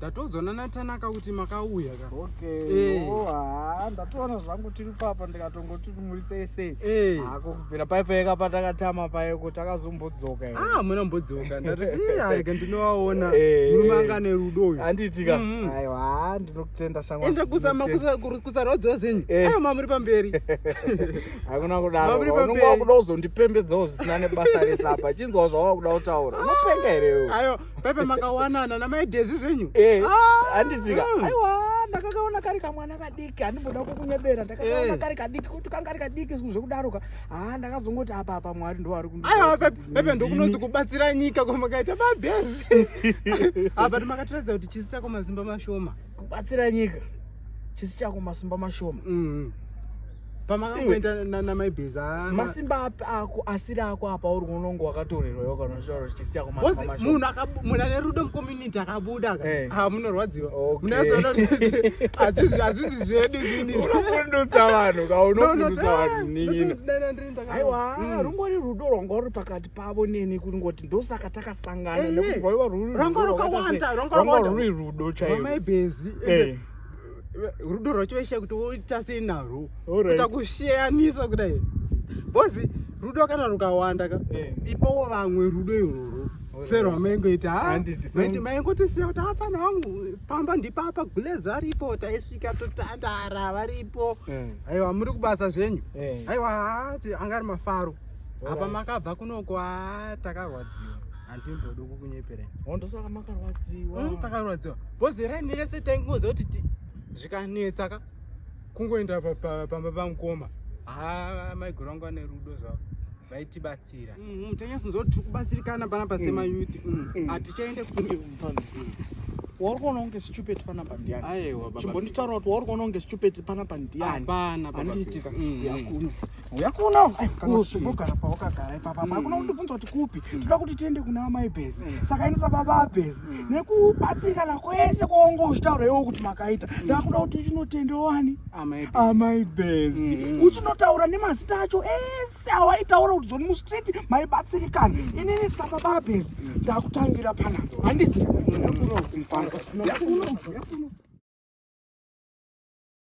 ndatodzwa nanatanaka kuti makauya ka okay hey. Eh. oh, haa ndatoona zvangu tiri papa ndikatongoti muri sei sei hey. Eh. hako kubvira pai paeka patakatama paeko takazombodzoka ah muna mbodzoka ndatiarega ndinovaona hey. Eh. murume anga ane rudo uyu handiitika mm -hmm. aiwa haa ndinokutenda shamwa ende kuzama kusarodzwa zvenyu hey. ayo mamuri pamberi hakuna kudaro unonga wakuda kuzondipembedzawo zvisina nebasa rese apa chinzwa zvawava kuda kutaura unopenga here ayo pepe makawanana namai dezi zvenyu eh, ah, handitika mm. aiwa ndakakaona kari kamwana kadiki handimboda kukunyebera ndakakaona eh. kari kadiki kuti kanga kari kadiki zviku zvekudaroka haa ah, ndakazongoti apa apa mwari ndo vari kundiaiwapepe ndokunonzi kubatsira nyika kwamakaita mabhezi apa timakatiratidza kuti chisi chako mazimba mashoma kubatsira nyika chisi chako masimba mashoma mm-hmm. pamakamboenda namaibheza masimba api ako asiri ako apa uri unonge wakatorerwa yo kana shoro chisi chako manje munhu akamunhu ane rudo mucommunity akabuda ka eh. ha munorwadziwa munozoona azvizi azvizi zvedu zini unofundutsa vanhu ka unofundutsa vanhu nini aiwa mm. rungori rudo rwanga ruri pakati pavo neni kuri ngoti ndosaka takasangana eh, nekuti rwaiva rwuri rwanga rwakawanda rwanga rwuri rudo chaiwo maibhezi eh. rudo rwacho vaishiya kuti woita sei narwo kuita kusheyanisa kudai bhozi rudo kana rukawanda ka eh. ipawo vamwe rudo irworwo sero amaingoita haiti maingotisiya kuti hapana wangu pamba ndipapa gulezi varipo taisvika totandara varipo eh. aiwa muri kubasa zvenyu eh. aiwa hati angari mafaro apa makabva kunoko haa takarwadziwa handimbodi kukunyeperai ho ndosaka makarwadziwa mm, takarwadziwa bhozi raini rese taingoziva kuti zvikanetsa ka kungoenda pamba pamukoma ha maiguru angu ane rudo zvavo vaitibatsira mm, tanyasonzwa kuti tiri kubatsirikana panapa semayuti mm, mm, hatichaende kune wauri kuona kunge stupid panapa ndiani chimbonditaura kuti wauri kuona kunge stupid panapa ndiani handiitika yakuno uya kuona ugara pawakagara ipapa mm. hakuna kundibvunza kuti kupi mm. toda kuti tiende kuna amai bhezi mm. saka ini sababa abhezi nekubatsirikana kwese kwaunge uchitaura iwo kuti makaita ndakuda kuti uchinotende wani amai bhezi uchinotaura nemazita acho ese awaitaura kuti zoni mustreet maibatsirikana inini sababa abhezi ndakutangira panapa handiti yakuno kumfana yakuno